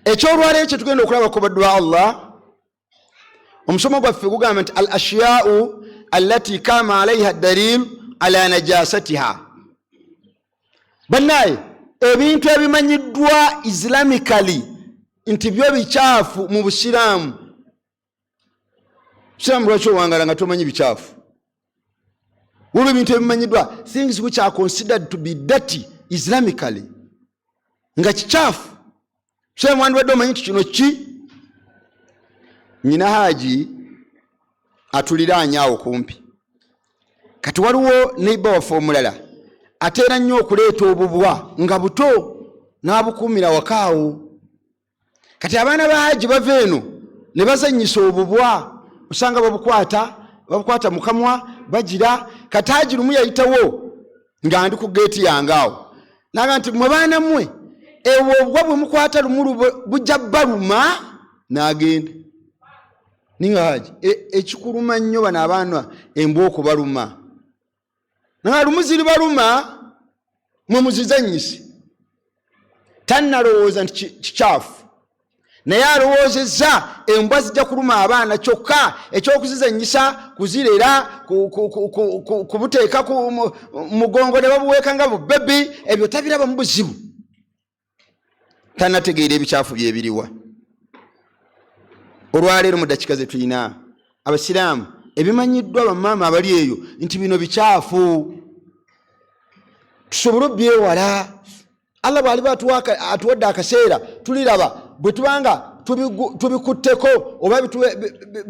ekyolwaleero kyetugenda okulaba ku baddu ba allah omusomo gwaffe gugamba nti al ashiyau allati kama alaiha dalil ala najasatiha banaye ebintu ebimanyiddwa islamically nti byo bikyafu mu busiraamu siramu lwaki owangala nga tomanyi bikyafu waliwo ebintu ebimanyiddwa things which are considered to be dirty islamically nga kikyafu siramu wandibadde omanyi nti kino ki nyina haaji atuliraanyo awo kumpi kati waliwo neiba waffe omulala ateera nnyo okuleeta obubwa nga buto n'abukuumira wakaawo kati abaana ba haji bava eno ne bazanyisa obubwa osanga babukwata babukwata mukamwa bagira kati haji lumu yayitawo nga ndi ku geeti yange awo naga nti mwe baana mmwe ebwo obubwa bwe mukwata lumu bujja baluma nagenda ninga haji e, ekikuluma nnyo bano abaana embwa okubaluma nga lumu ziribaluma mwe muzizanyise tannalowooza nti kikyafu naye alowoozezza embwa zijja kuluma abaana kyokka ekyokuzizanyisa kuzirera kubuteeka mugongo ne babuweeka nga bubebi ebyo tabirabamu buzibu tanategeera ebikyafu byebiriwa olwaleero mu dakika zetulina abasiraamu ebimanyiddwa bamaama abali eyo nti bino bikyafu tusobole obyewala allah bwaliba atuwadde akaseera tuliraba bwetubanga tubikutteko oba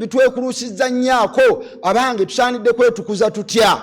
bitwekulusiza nyaako abange tusaanidde kwetukuza tutya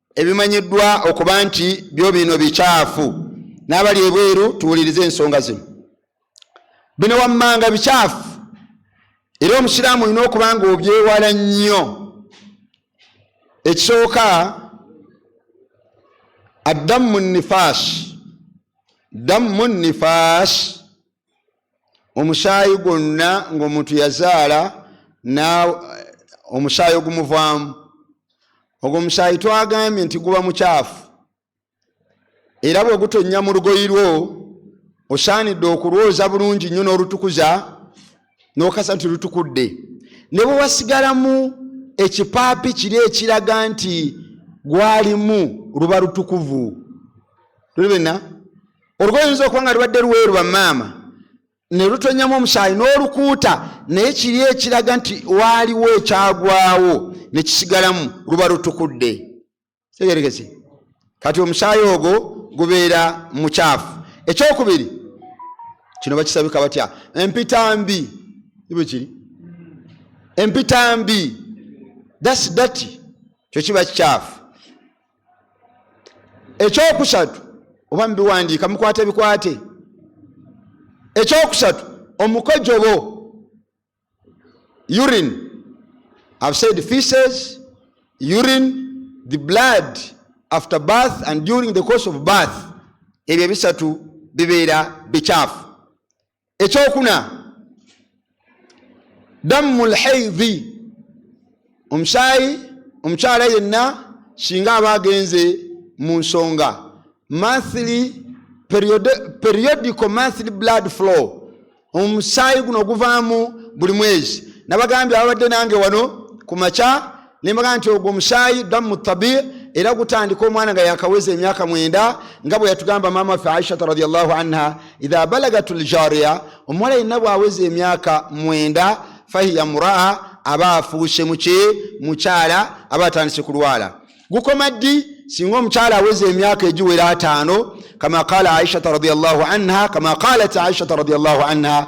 ebimanyiddwa okuba nti byo bino bikyafu n'abali ebweru tuwulirize ensonga zino bino wammanga bikyafu era omusiraamu olina okuba nga obyewala nnyo ekisooka addamu nifaasi dammu nifaasi omusaayi gwonna ngaomuntu yazaala omusaayi ogumuvaamu ogwo omusaayi twagambye nti guba mukyafu era bwe gutonnya mu lugoyi lwo osaanidde okulwoza bulungi nnyo n'olutukuza n'okasa nti lutukudde ne bwe wasigalamu ekipaapi kiri ekiraga nti gwalimu luba lutukuvu tulibena olugoye oyinza okuba nga lubadde luweeru bamaama ne lutonyamu omusaayi n'olukuuta naye kiri ekiraga nti waaliwo ekyagwawo ne kisigalamu luba lutukudde tegerekese kati omusaayi ogwo gubeera mukyafu ekyokubiri kino bakisabika batya empita mbi ibwe kiri empita mbi dasi dati kyo kiba kikyafu ekyokusatu oba mubiwandiika mukwate bikwate ekyokusatu omukojobo urin have said feces urin the blood after birth and during the course of birth ebyo ebisatu bibeera bikyafu ekyokuna dammu lhaidhi omusaayi omukyala yenna singa aba agenze mu nsonga monthly periodical monthly blood flow omusaayi guno oguvaamu buli mwezi nabagambye ababadde nange wano ku makya nembaga nti ogwo omusaayi damu tabi era gutandika omwana nga yakaweza emyaka mwenda nga bwe yatugamba maama ffe aishata radiallahu anha idha balagat ljariya omuwala yenna bwaweza emyaka mwenda fahiya muraa aba afuuse muki mukyala aba atandise kulwala gukoma ddi singa omukyala aweza emyaka egiwera ataano kama qala aishata radiallahu anha kama qalat aishata radiallahu anha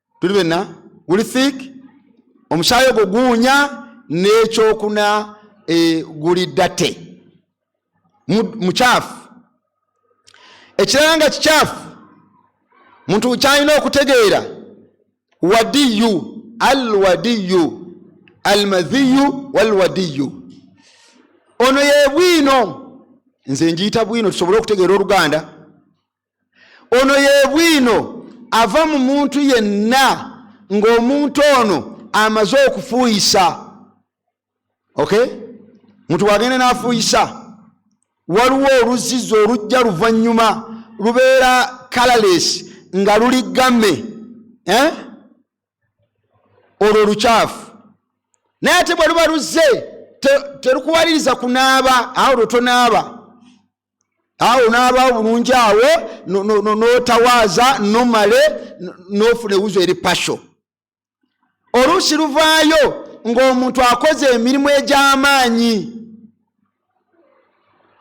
tuli benna guli thick omusaayi ogwo guwunya n'ekyokuna e, guli date mukyafu ekirala nga kikyafu muntu kyalina okutegeera wadiyu alwadiyu almadhiyu walwadiyu ono yebwino nze njiyita bwino tusobole okutegeera oluganda ono yebwino ava mu muntu yenna ng'omuntu ono amaze okufuuyisa ok muntu wagende n'afuuyisa waliwo oluzizi olujja luvannyuma lubeera kalales nga luli game eh? olwo olukyafu naye ate bwe luba luzze terukuwaliriza kunaaba awo lwe tonaaba awo naaba bulungi awo notawaaza nomale nofuna ewuzo eri pasho oluusi luvaayo ng'omuntu akoze emirimu egy'amaanyi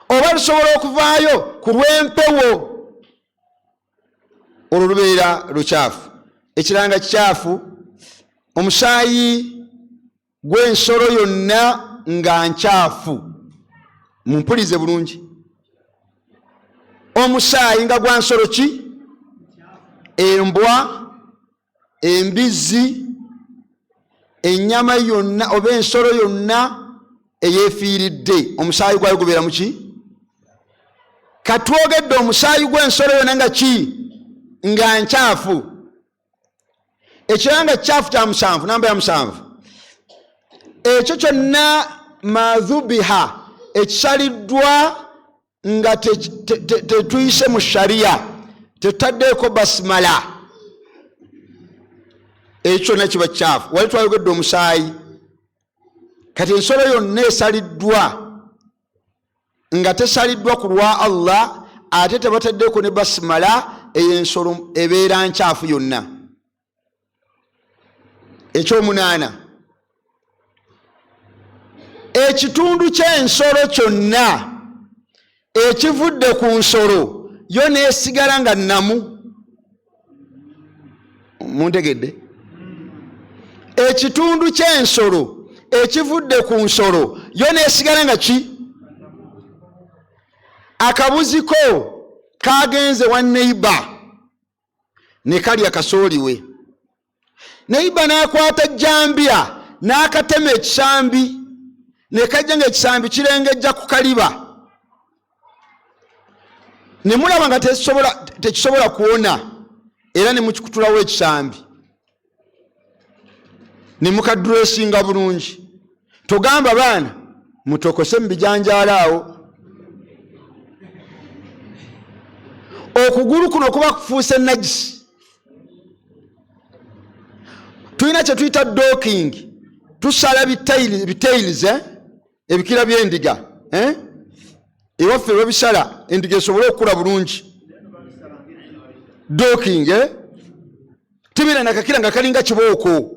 oba lusobola okuvaayo ku lw'empewo olwo lubeera lukyafu ekiranga kikyafu omusaayi gw'ensolo yonna nga nkyafu mumpulize bulungi omusaayi nga gwa nsolo ki embwa embizzi ennyama yonna oba ensolo yonna eyefiiridde omusaayi gwayo gubeera muki katwogedde omusaayi gw'ensolo yonna nga ki nga nkyafu ekirala nga kikyafu kya musanvu namba ya musanvu ekyo kyonna madhubiha ekisaliddwa nga tetuyise mu shariya tetaddeeko basimala ekyo kyonna kiba kikyafu wali twayogedde omusaayi kati ensolo yonna esaliddwa nga tesaliddwa ku lwa allah ate tebateddeko ne basimala eyo ensolo ebeera nkyafu yonna ekyomunaana ekitundu ky'ensolo kyonna ekivudde ku nsolo yo nesigala nga namu muntegedde ekitundu ky'ensolo ekivudde ku nsolo yo nesigala nga ki akabuziko kagenze wa neiba ne kalya kasooliwe neiba n'akwata jjambiya n'akatema ekisambi ne kajja ng'ekisambi kirengejja ku kaliba ne mulaba nga tekisobola kuwona era ne mukikutulawo ekisambi ne mukadresinga bulungi togamba baana mutokose mubijanjaala awo okugulu kuno kuba kufuuse najisi tulina kyetuyita doking tusala bitails eh? ebikira byendiga eh? ewaffe babisala endiga esobole okukula bulungi doking eh? tebeera nakakira nga kalinga kibooko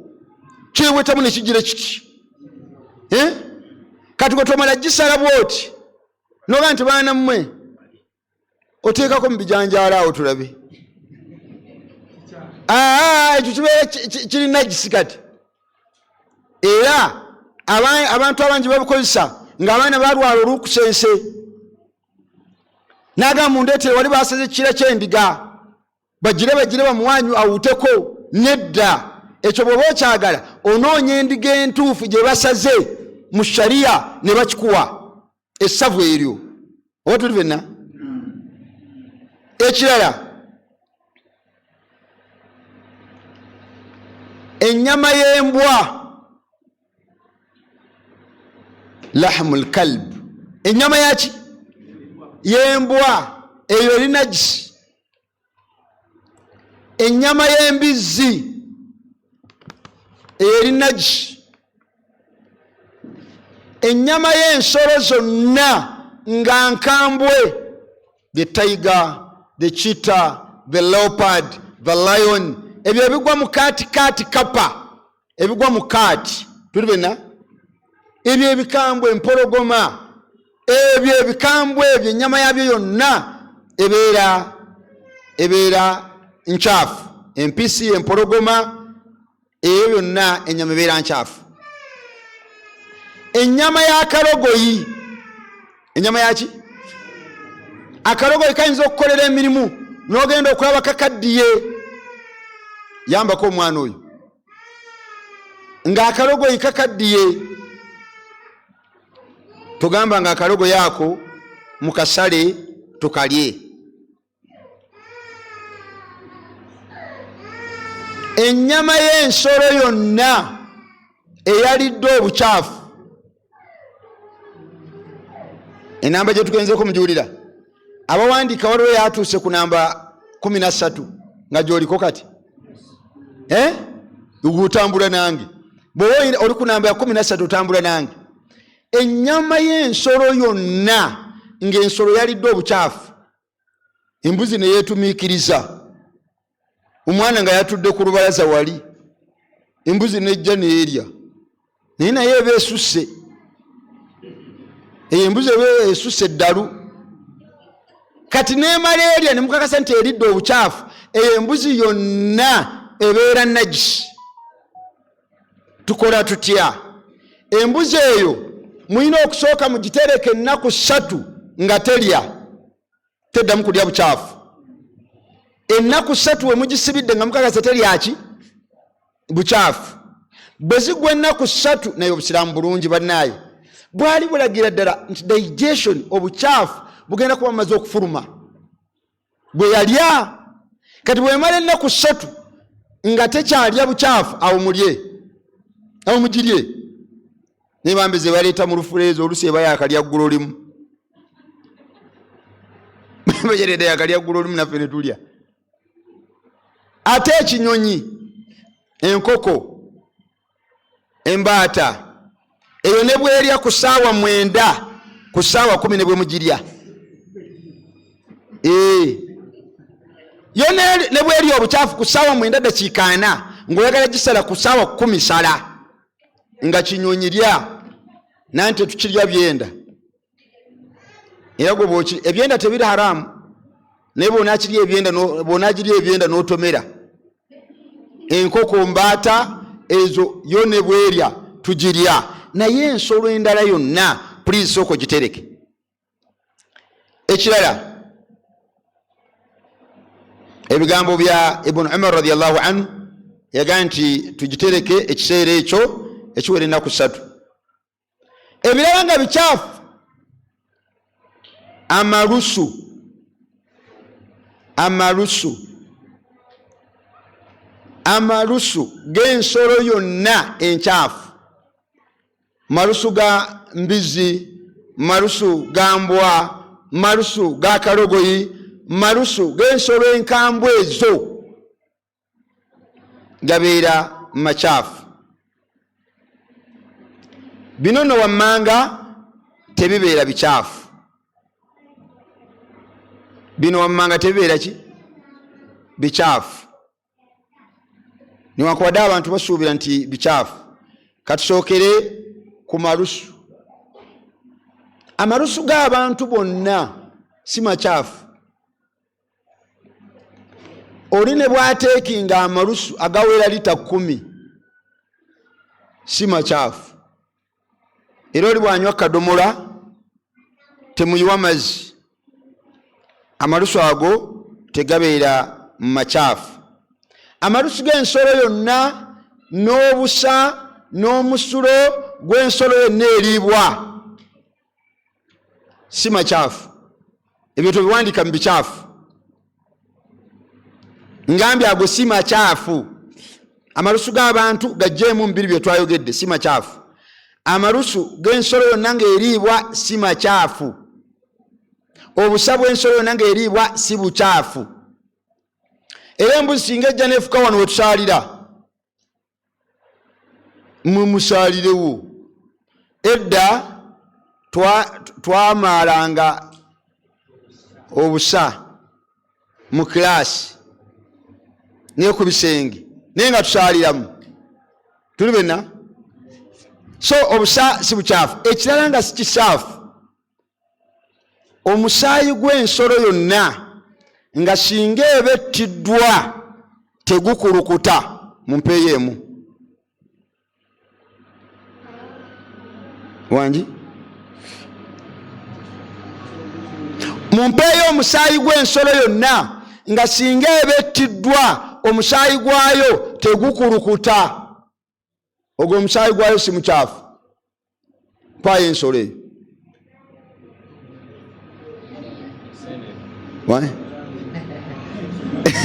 kyewetamu nekijira kiti eh? kati gwetomala gisala bwoti noga nti baana mmwe oteekako mu bijanjaalo awo tulabe ah, ekyo kibeera kiri nagisi kati era abantu abangi babukozesa ngaabaana balwala olukusense nagamba mundeetera wali baseze kira kyendiga bagire bagire bamuwanyu awuteko nedda ekyo bwoba okyagala onoonya endiga entuufu gye basaze mu shariya ne bakikuwa essavu eryo oba tuli fenna ekirala ennyama y'embwa lahmul kalb enyama yaki yembwa eyo eri najisi enyama yembizzi eyo eri najisi enyama yensolo zonna nga nkambwe the tiger the cheetah the leopard the lion ebyo ebigwa mu kaati kaati kapa ebigwa mu kaati tuli bena ebyo ebikambwe empologoma ebyo ebikambwe ebyo ennyama yabyo yonna ebeera ebeera nkyafu empisi empologoma eyo byonna ennyama ebeera nkyafu ennyama ya kalogoyi enyama yaki akalogoyi kayinza okukolera emirimu nogenda okulaba kakaddiye yambako omwana oyo ngaakalogoyi kakaddiye tugamba nga akalogoyi ako mukasale tukalye ennyama y'ensolo yonna eyalidde obukyafu enamba gye tugenzeko mugiwulira abawandiika waliwo yatuuse ku namba kumi na ssatu nga gyoliko kati eh? otambula nange bwoba oli ku namba ya kumi na ssatu otambula nange ennyama y'ensolo yonna ng'ensolo yalidde obukyafu embuzi ne yeetumiikiriza omwana nga yatudde ku lubalaza wali embuzi nejja neerya naye naye eba esusse eyo embuzi eba esusse eddalu kati neemala erya ne mukakasa nti eridde obukyafu eyo embuzi yonna ebeera nagisi tukola tutya embuzi eyo mulina okusooka mugitereka ennaku ssatu nga telya teddamu kulya bukyafu ennaku ssatu we mugisibidde nga mukakasa telyaki bukyafu bwe zigwa ennaku ssatu naye obusiraamu bulungi bannaayo bwali bulagira ddala nti digestion obukyafu bugenda kuba bumaze okufuluma gwe yalya kati bwemala ennaku ssatu nga tekyalya bukyafu awo mulye awo mugirye naye bambi ze baleeta mu lufuleeza olusi eba yakalya ggulo limu bajereda yakalya ggulo limu naffe ne tulya ate ekinyonyi enkoko embaata eyo ne bwerya ku saawa mwenda ku saawa kumi ne bwemugirya eh. yo ne bwerya obukyafu ku saawa mwenda dakiika ana ngaoyagala gisala ku saawa kumi sala nga kinyonyi lya nanti tukirya byenda era gwe bwoki ebyenda tebiri haramu naye bwonakiri ebyenda bwonagiri ebyenda notomera enkoko mbaata ezo yo ne bwerya tugirya naye ensolo endala yonna pulizi sooko gitereke ekirala ebigambo bya ibunu umar radiallahu anhu yagaa nti tugitereke ekiseera ekyo ekiwera ennaku satu ebirala nga bikyafu amalusu amalusu amalusu g'ensolo yonna enkyafu malusu ga mbizi malusu ga mbwa malusu ga kalogoyi malusu g'ensolo enkambwe ezo gabeera makyafu bino nno wammanga tebibeera bikyafu bino wammanga tebibeera ki bikyafu newankubadde abantu basuubira nti bikyafu katusookere ku malusu amalusu g'abantu bonna si makyafu oli ne bwateekinga amalusu agawera lita kumi si makyafu era oli bwanywa kadomola temuyiwa mazzi amalusu ago tegabeera mu makyafu amalusu g'ensolo yonna n'obusa n'omusulo gw'ensolo yonna eriibwa si makyafu ebyo tobiwandika mu bikyafu ngambye ago si makyafu amalusu g'abantu gajjeemu mubiri bye twayogedde si makyafu amalusu g'ensolo yonna ng'eriibwa si makyafu obusa bw'ensolo yonna ng'eriibwa si bukyafu era embuzi singa ejja neefuka wano wetusalira mumusaalirewo edda twamaalanga obusa mu kilaasi naye ku bisenge naye nga tusaaliramu tuli bena so obusa si bukyafu ekirala nga sikisaafu omusaayi gw'ensolo yonna nga singa eba ettiddwa tegukulukuta mu mpeeyo emu wangi mu mpeeyo omusaayi gw'ensolo yonna nga singa eba ettiddwa omusaayi gwayo tegukulukuta ogwo omusaayi gwayo si mukyafu mpaayo ensolo eyo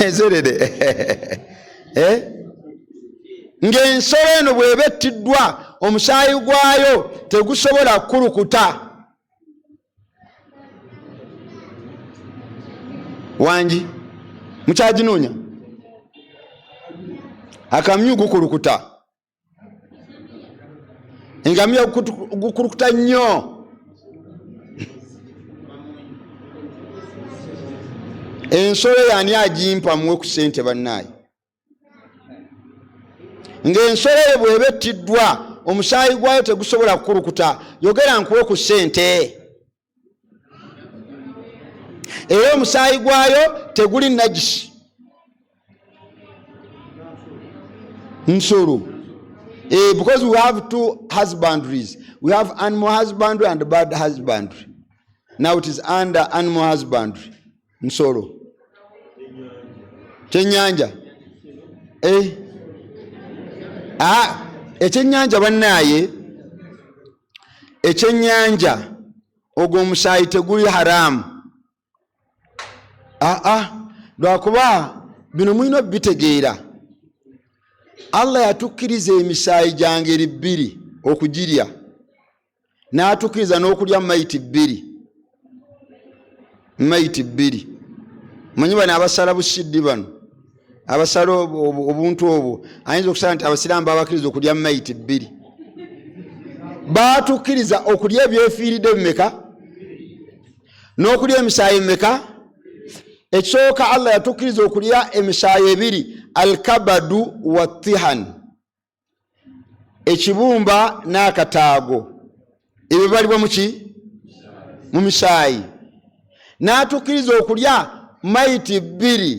ezerede eh? ng'ensolo eno bweba ettiddwa omusaayi gwayo tegusobola kukulukuta wangi mukyaginoonya akamyu gukulukuta engamiya gukulukuta nnyo ensolo yani agimpa muwe ku sente bannaayi ng'ensolo eyo bw'eba ettiddwa omusaayi gwayo tegusobola kukulukuta yogera nkuwe ku ssente era omusaayi gwayo teguli najisi nsolo eh, because we have two husbandries we have animal husbandry and bad husbandry now it is under animal husbandry nsolo kyenyanja eh. ah, ekyenyanja bannaaye ekyenyanja ogwo omusaayi teguli haramu aa ah, ah. lwakuba bino mulina obitegeera allah yatukkiriza emisaayi gya ngeri bbiri okugirya n'atukiriza n'okulya mayiti bbiri mayiti bbiri manyi bano abasala busiddi bano abasala obuntu obwo ayinza okusala nti abasiraamu babakiriza okulya mayiti bbiri baatukkiriza okulya ebyefiiridde bimeka n'okulya emisaayi meka ekisooka allah yatukkiriza okulya emisaayi ebiri alkabadu watihan ekibumba n'akataago ebyo bibalibwa muki mu misaayi n'atukkiriza okulya maiti bbiri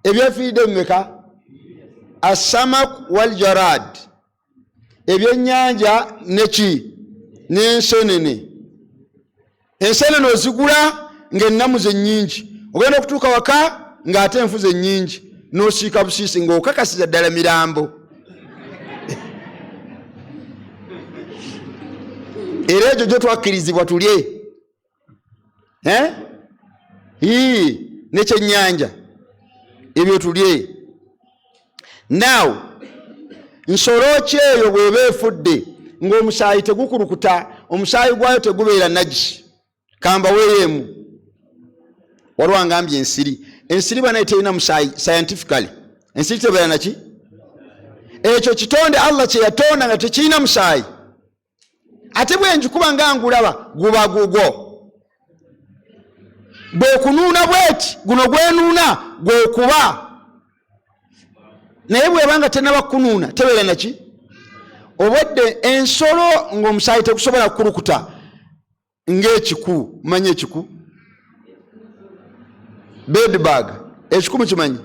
ebyefiiridde bimeka assamak waljarad ebyennyanja neki n'ensenene ne enseenene ozigula ng'ennamu ze nnyingi ogenda okutuuka waka ng'ate enfu ze nnyingi n'osiika busiisi ng'okakasiza ddala mirambo era egyo gyo twakkirizibwa tulye eh? nekyennyanja ebyo tulye now nsolo ki eyo bweba efudde ngaomusaayi tegukulukuta omusaayi gwayo tegubeera nagi kambaweyoemu waliwo angambye ensiri ensiri banaye terina musaayi scientifically ensiri tebeera naki ekyo kitonde allah kyeyatonda nga tekirina musaayi ate bwenjikuba nga ngulaba guba gugwo bwekunuuna bweti guno gwenuuna gwekuba naye bweba nga tenaba kunuuna tebeera naki obwedde ensolo ngaomusaayi tegusobola kukulukuta ng'ekiku manyi ekiku bedbag ekiku mukimanyi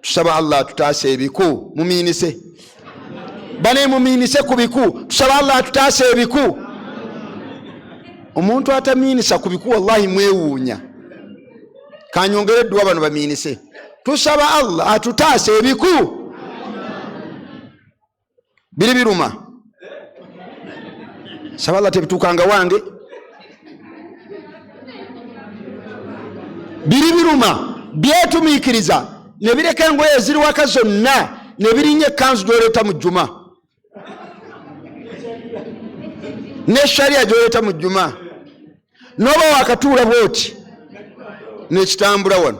tusaba allah atutaase ebiku mumiinise bane mumiinise ku biku tusaba allah atutaase ebiku omuntu atamiinisa ku biku wallahi mwewuunya kanyongere edduwa bano bamiinise tusaba allah atutaase ebiku biri biruma saba allah tebituukanga wange biri biruma byetumiikiriza ne bireka engoye eziriwaka zonna ne birinya ekkanzu gyoleeta mu jjuma ne shariya gyoleeta mu jjuma noba wakatuula bwoti nekitambula wano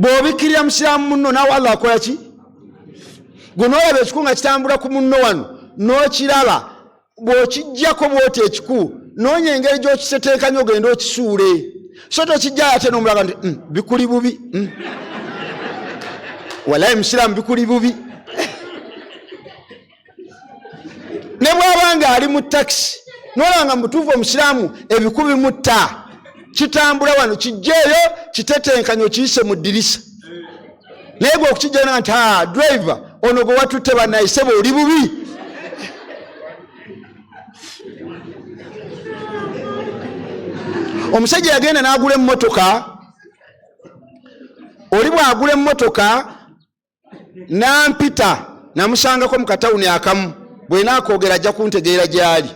bw'obikkirira musiraamu munno naawe allah akola ki gwe noolaba ekiku nga kitambula ku munno wano n'okiraba bw'okijjako bwoti ekiku noonya engeri gy'okiseteekanya ogende okisuule so tokijjayo ate nomulaga nti mm, bikuli bubi mm. walayi musiraamu bikuli bubi ne bwaba nga ali mu takisi nolaba nga mubutuufu omusiraamu ebikubi mutta kitambula wano kijjeeyo kitetenkanya okiyise mu ddirisa naye gwe okukijjana nti a ah, drive ono gwe watutte banayiseba oli bubi omusajja yagenda n'agula emmotoka oli bw'agula emmotoka nampita namusangako mu katawuni akamu bwena akoogera ajja kuntegeera gyali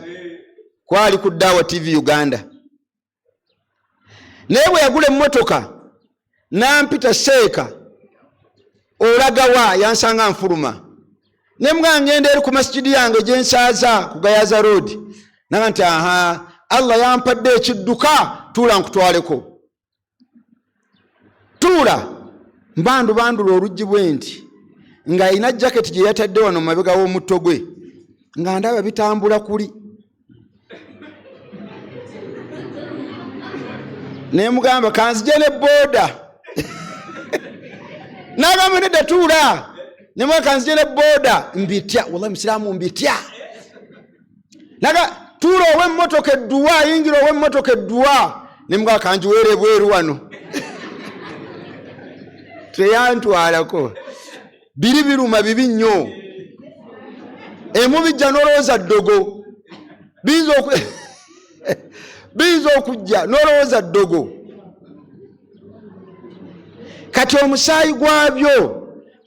kwali ku daawa tv uganda naye bwe yagula emmotoka nampita seeka olagawa yansanga nfuluma ne mga ngenda eri ku masigidi yange gyensaaza ku gayaza roodi naga nti aha allah yampadde ekidduka tuula nkutwaleko tuula mbandubandula oluggi bwe nti ng'alina jaketi gye yatadde wano mu mabega w'omutto gwe nga ndaba bitambula kuli naye mugamba kanzija ne booda nagamba nedda tuula nemwa kanzija ne booda mbitya wallahi musiraamu mbitya naga tuula ow'emmotoka edduwa ayingira ow'emmotoka edduwa ne mga kanjiweera ebweru wano teyantwalako biri biruma bibi nnyo emubijja nolowooza ddogo biyinza oku biyinza okujja nolowooza ddogo kati omusaayi gwabyo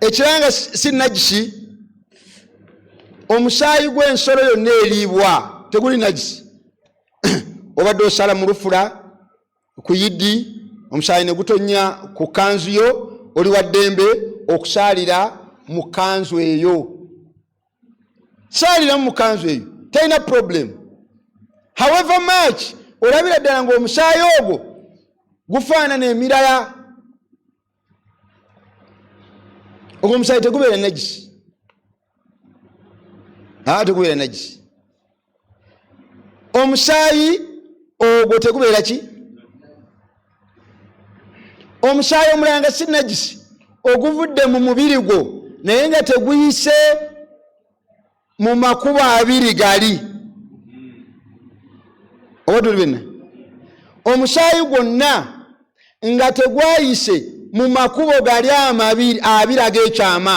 ekiranga si najisi omusaayi gw'ensolo yonna eriibwa teguli najisi obadde osala mu lufula ku yiddi omusaayi ne gutonnya ku kanzu yo oli wa ddembe okusaalira mu kanzu eyo saaliramu mukanzu eyo talina problem however much olabira ddala ngaomusaayi ogwo gufaanana emirala ogwo omusaayi tegubeera nagisi aa tegubeera nagisi omusaayi ogwo tegubeera ki omusaayi omulala nga si najisi oguvudde mu mubiri gwo naye nga teguyise mu makubo abiri gali oba tuli bena omusaayi gwonna nga tegwayise mu makubo gali amabiri abiri ag'ekyama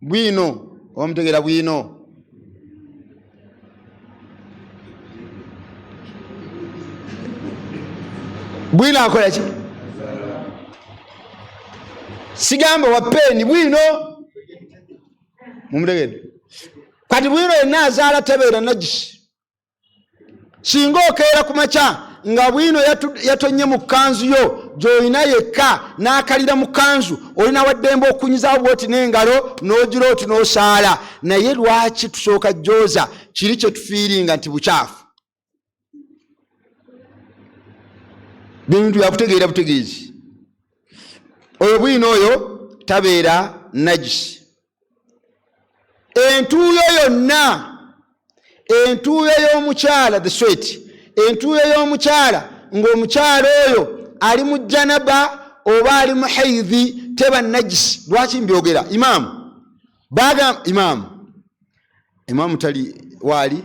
bwino oba mutegeera bwino bwino akola ki sigamba wa peeni bwino mumutegere kati bwino yenna azaala tabeera nagisi singa okeera ku makya nga bwino yatonye mu kanzu yo gyolina yekka n'akalira mu kanzu olina waddembe okunyizawo bwoti n'engalo n'ogira oti n'osaala naye lwaki tusooka jooza kiri kye tufiiringa nti bukyafu bintu byakutegeera butegeezi oyo bwino oyo tabeera najisi entuuyo yonna entuuyo y'omukyala the sweet entuuyo y'omukyala ng'omukyala oyo ali mu janaba oba ali mu haidhi teba najisi lwaki mbyogera imaamu baga imaamu imaamu tali waali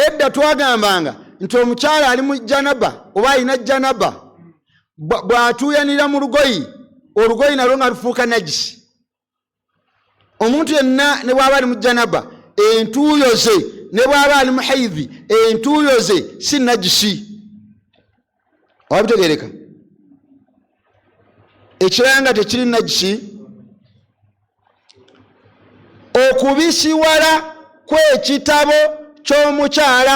edda twagambanga nti omukyala ali mu janaba oba alina janaba bw'atuuyanira mu lugoyi olugoyi nalwo nga lufuuka najisi omuntu yenna ne bw'aba ali mu janaba entuuyo ze ne bw'aba ali mu haidhi entuuyo ze si najisi oba bitegereka ekirala nga tekiri najisi okubisiwala kw'ekitabo ky'omukyala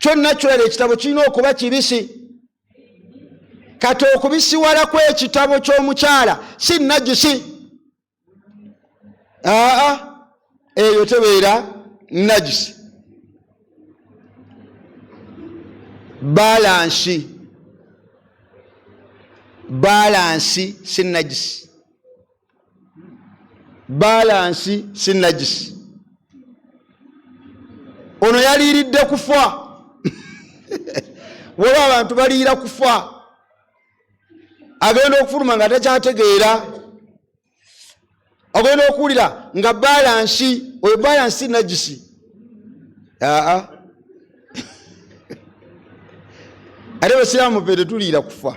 kyonna kyoera ekitabo kirina okuba kibisi kati okubisiwala kwekitabo kyomukyala si najisi aa eyo tebeera najisi balansi balansi si najisi baalansi si najisi ono yaliiridde kufa waba abantu baliira kufa agenda okufuluma nga takyategeera ogenda okuwulira nga baalansi oyo baalansi si najisi aa ate basiraamu fe tetuliira kufa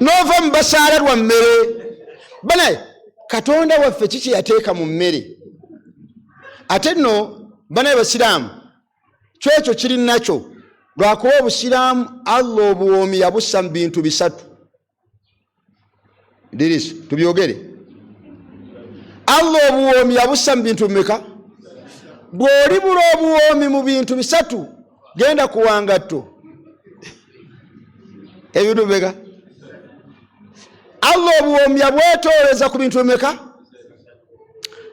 n'ova mu basaala lwa mmere banaye katonda waffe ki kyeyateeka mu mmere ate nno banaye basiraamu kyekyo kiri nakyo lwakuba obusiraamu allah obuwoomi yabussa mu bintu bisatu dirisu tubyogere allah obuwoomi yabussa mu bintu bimeka bw'oli bula obuwoomi mu bintu bisatu genda kuwangatto ebintu bimeka allah obuwoomi yabwetooleza ku bintu bimeka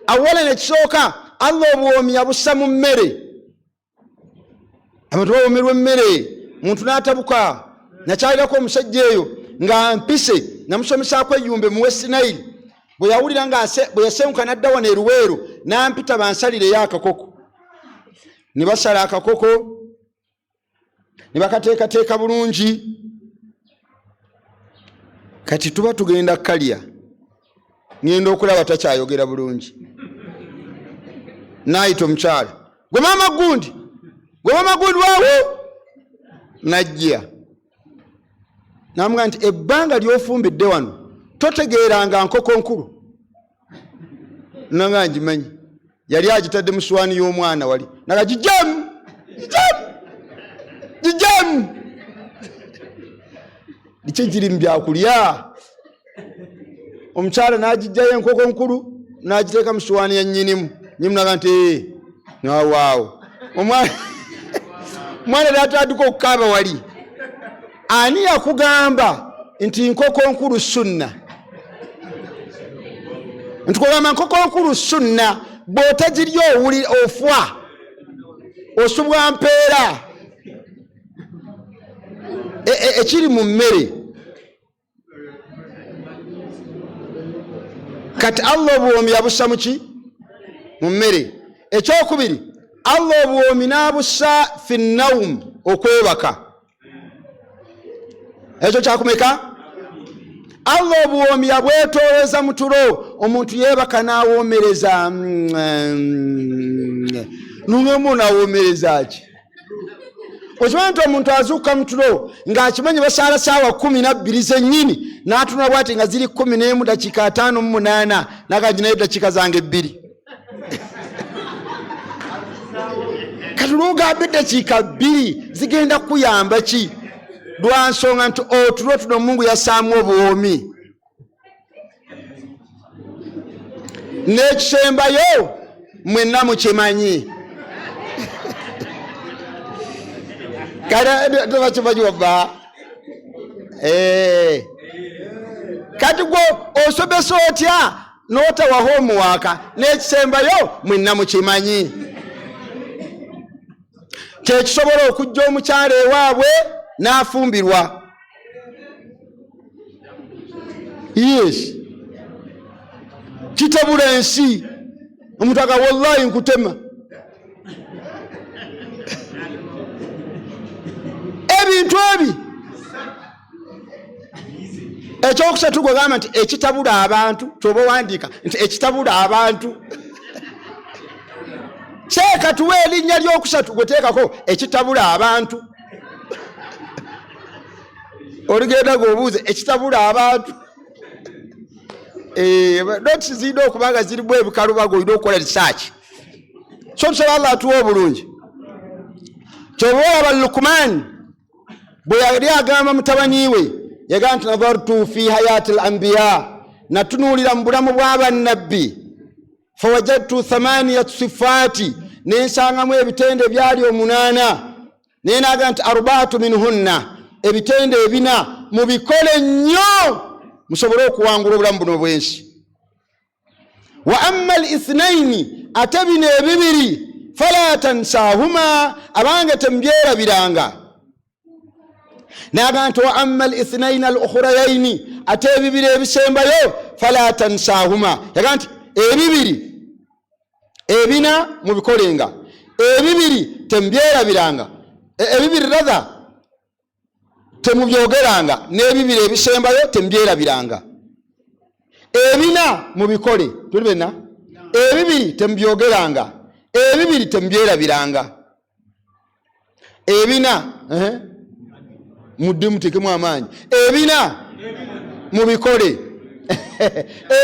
awala nekisooka allah obuwoomi yabussa mu mmere abantu bawomerwa emmere muntu n'atabuka nakyalirako omusajja eyo nga mpise namusomesaako eyumbe mu westinaili bwe yawulira nga bwe yasenguka n'adda wano eruweero n'ampita bansalireyo akakoko ne basala akakoko ne bakateekateeka bulungi kati tuba tugenda kalya ngenda okulaba takyayogera bulungi naayita omukyala gwe maama gundi gwe maama gundi waawo najja namuga nti ebbanga lyofumbidde wano totegeeranga nkoko nkulu nanga ngimanyi yali agitadde mu swaani y'omwana wali naga gijamu gijamu gijamu biki giri mu byakulya omukyala n'agijjayo enkoko nkulu n'agiteeka mu swaani ya nnyinimu nyimu naga nti ee eh, nawaawo omwana omwana era atandika okukaaba wali ani yakugamba nti nkoko nkulu sunna ntukugamba nkoko nkulu sunna bwotagirya owuli ofwa osubwa mpeera e, e, ekiri mu mmere kati allah obuwoomi yabussa muki mu mmere ekyokubiri allah obuwoomi n'abussa fi naum okwebaka ekyo kyakumeka allah obuwoomi yabwetooleza mu tulo omuntu yeebaka n'awoomereza mm, mm, mm, nunga omuntu awoomereza ki okimanyi nti omuntu azuuka mutulo ng'akimanyi basaala saawa kumi nabbiri zennyini n'atunula bwati nga ziri kumi n'emu dakiika ataano mu munaana nagaginayo eddakiika zange ebbiri kati lwogamba eddakiika bbiri zigenda kukuyamba ki lwa nsonga nti otulo tuno mungu yasaamu obuwoomi n'ekisembayo mwenna mukimanyi kalebakimanyi waba eh. kati gwe osomesa otya n'otawaho omuwaaka n'ekisembayo mwenna mukimanyi kyekisobola okujja omukyalo ewaabwe n'afumbirwa yes kitabula ensi omutaka wallahi nkutema ebintu ebi ekyokusatu gwegamba nti ekitabula abantu kyoba owandiika nti ekitabula abantu teeka tuwa erinnya lyokusatu gweteekako ekitabula abantu olugenda ngaobuuza ekitabula abantu eh, noti zirina okuba nga zirimu ebikalubaga olina okukola risaaki so tusaba allah atuwa obulungi kyova olaba lukumaani bwe yali agamba mutabani we yagamba nti nadartu fi hayati l ambiya natunuulira mu bulamu bw'abannabbi fawajadtu thamaniyat sifaati nensangamu ebitendo ebyali omunaana naye naga nti arbaatu minhunna ebitendo ebina mubikole nnyo musobole okuwangula obulamu buno bwensi wa amma al ithnaini ate bino ebibiri fala tansahuma abange temubyerabiranga naga nti wa amma lithnaina alukhurayaini ate ebibiri ebisembayo fala tansahuma yaga nti ebibiri ebina mubikolenga ebibiri temubyerabiranga e- ebibiri ratha temubyogeranga n'ebibiri ebisembayo temubyerabiranga ebina mubikole tuli bena ebibiri temubyogeranga ebibiri temubyerabiranga ebina eh? mudde mutekemu amaanyi ebina mubikole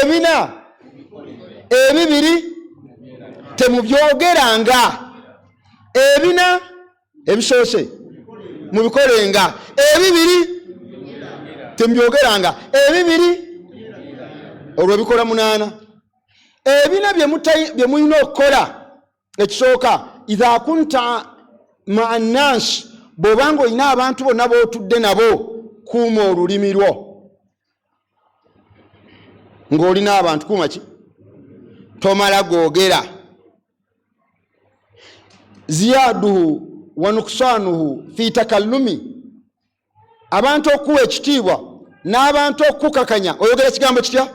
ebina ebibiri temubyogeranga ebina ebisoose mubikolenga ebibiri temubyogeranga ebibiri olwo bikola munaana ebina byemulina okukola ekisooka idha kunta maa nnaasi bw'oba nga olina abantu bonna b'otudde nabo kuuma olulimi lwo ng'olina abantu kuuma ki tomala googera ziyaduhu wanuksanuhu fi takallumi abantu okuwa ekitiibwa n'abantu okukakanya oyogera ekigambo kitya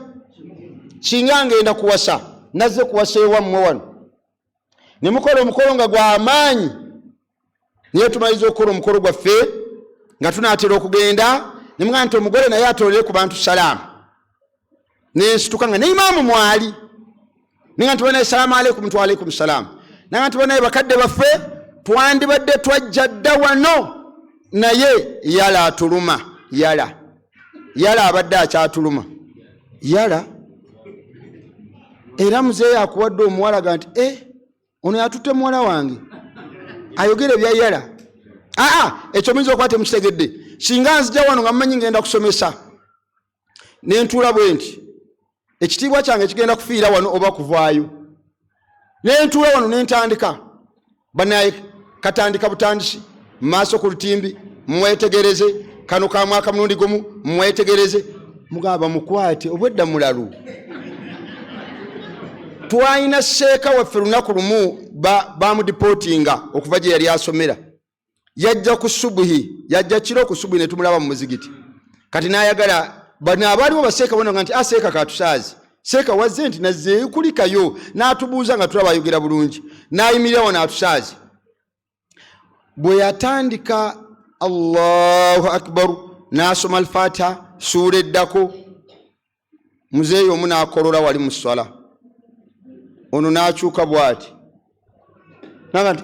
kinga ngenda kuwasa nazze kuwasa ewammwe wano ne mukola omukolo nga gw'amaanyi naye tumaliza okukola omukolo gwaffe nga tunaatera okugenda ne mugamba nti omugole naye atoolere ku bantu salaamu nensituka nga ne imaamu mwali ninga nti banaye salaamu aleikum tu aleikum salaamu nanga nti banaye bakadde baffe twandibadde twajja dda wano naye yala atuluma yala yala abadde akyatuluma yala era muzeeyo akuwadde omuwala ga nti e ono yatutte muwala wange ayogere bya yala aa ekyo muyinza okuba temukitegedde singa nzija wano nga mumanyi ngenda kusomesa ne ntuula bwe nti ekitiibwa kyange kigenda kufiira wano oba kuvaayo ne ntuula wano ne ntandika banaye katandika butandisi mu maaso ku lutimbi mwetegereze kano ka mwaka mulundi gumu mwetegereze mugamba mukwate obwedda mulalu twalina seeka waffe lunaku lumu bamudipootinga okuva gye yali asomera yajja ku subuhi yajja kiro ku subuhi netumulaba mu muzigiti kati nayagala bano abaaliwo baseeka bona nga nti aseeka ah, katusaazi seeka wazze nti nazeekulikayo n'atubuuza nga tulaba ayogera bulungi n'ayimirirawo n'atusaazi bwe yatandika allahu akbaru n'asoma alfatiha suula eddako muzeeyi omu n'akolora wali mu sswala ono n'akyuka bw'ati naga nti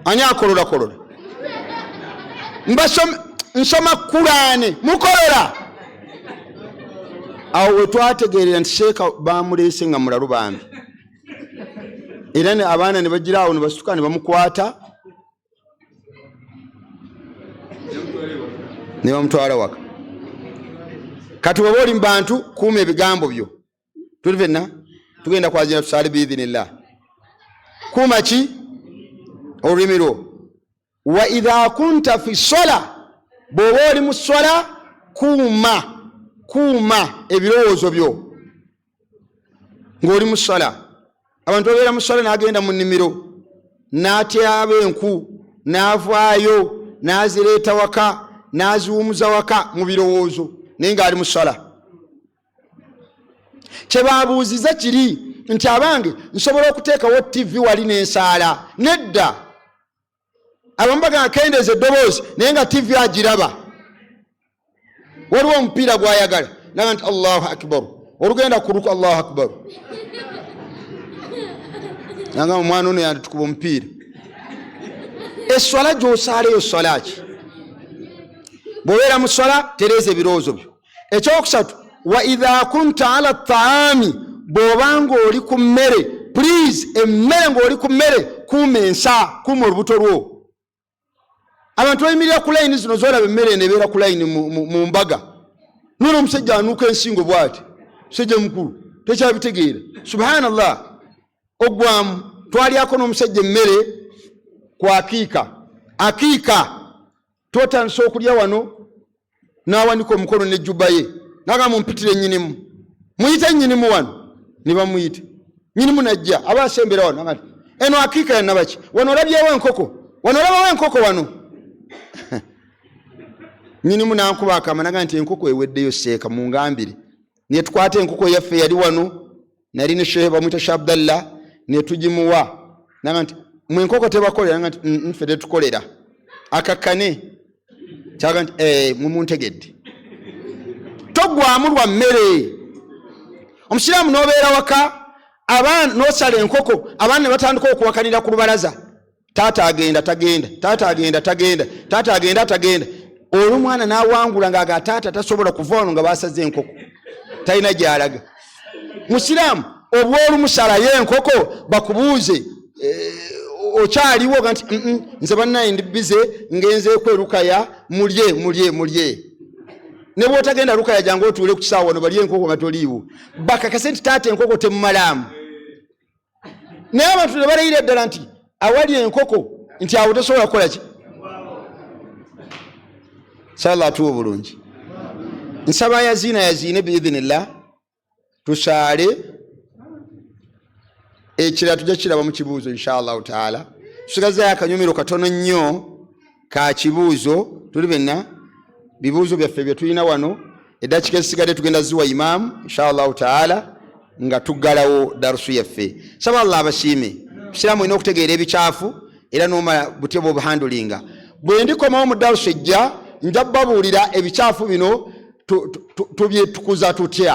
ani akolorakolora nsoma kulaane mukolora awo we twategeerera nti sheeka baamuleese nga mulalu bambi era abaana ne bagira awo ne basituka ne bamukwata ne bamutwala waka kati weba oli mubantu kuuma ebigambo byo tuli fenna tugenda kwazina tusaale biidhinillah kuuma ki olulimi lwo wa idha kunta fi sola bwoba oli mu sola kuuma kuuma ebirowoozo byo ng'oli mu ssala abantu babeera mu ssala n'agenda mu nnimiro n'atyaba enku n'avaayo n'azireeta waka n'aziwumuza waka mu birowoozo naye ng'ali mu ssala kye babuuziza kiri nti abange nsobola okuteekawo ttivi wali n'ensaala nedda abamu bagamba akendeeza eddoboozi naye nga tivi agiraba waliwo omupiira gwayagala naga nti allahu akbaru olugenda kuluka allahu akbaru nanga omwana ono yanditukuba omupiira eswala gyosaala eyo swala ki bwobeera mu swala tereeza ebirowoozo byo ekyokusatu wa idha kunta ala taami bwoba ngaoli ku mmere please emmere ngaoli ku mmere kuuma ensa kuuma olubuto lwo abantu bayimirira ku layini zino zolaba emmere eno ebeera ku layini mu mbaga nona omusajja anuuka ensingo bwati musajja mukulu tekyabitegeera subhanallah ogwamu twalyako n'omusajja emmere ku akiika akiika twatandisa okulya wano n'awanika omukono ne juba ye naga mumpitire nyinimu muyite nyinimu wano ne bamuyita nyinimu najja aba asembera wano nagati eno akiika yanabaki wano olabyewo enkoko wano olabawo enkoko wano nyinimu nankuba akama naga nti enkoko eweddeyo seeka mungambire ne tukwata enkoko yaffe yali wano nali ne shehe bamwita sha abdallah ne tugimuwa naga nti mwe enkoko tebakolera naga nti mm, mm, ffe tetukolera akakkane kyaga nti eh, mumuntegedde togwamu lwa mmere omusiraamu n'obeera waka abaana n'osala enkoko abaana ne batandika okuwakanira ku lubalaza taata agenda tagenda taata agenda tagenda taata agenda tagenda olumwana nawangula nga aga taata tasobola kuva wano nga basaze enkoko talina gyalaga musiraamu obwolumusalayo enkoko bakubuuze eh, okyaliwo ga nti nze banaye ndi bize ngenzeeku erukaya mulye mulye mulye ne bwotagenda lukaya jange otuule ku kisaawa wano balye enkoko nga toliiwo bakakase nti taata enkoko temumalaamu naye abantu nebalayira ddala nti awali enkoko nti awo tosobola kukola ki sala atuwa obulungi nsaba yaziina yaziine biidhinillah tusaale ekirala tujja kiraba mu kibuuzo inshallahu taala tusigazayo akanyumiro katono nnyo ka kibuuzo tuli benna bibuuzo byaffe bye tulina wano eddakika ezisigadde tugenda ziwa imaamu inshallahu taala nga tuggalawo darusu yaffe saba allah abasiime busiraamu olina okutegeera ebikyafu era nomala butya bwobuhandulinga bwe ndikomawo mu darusu ejja nja babuulira ebikyafu bino tubyetukuza tutya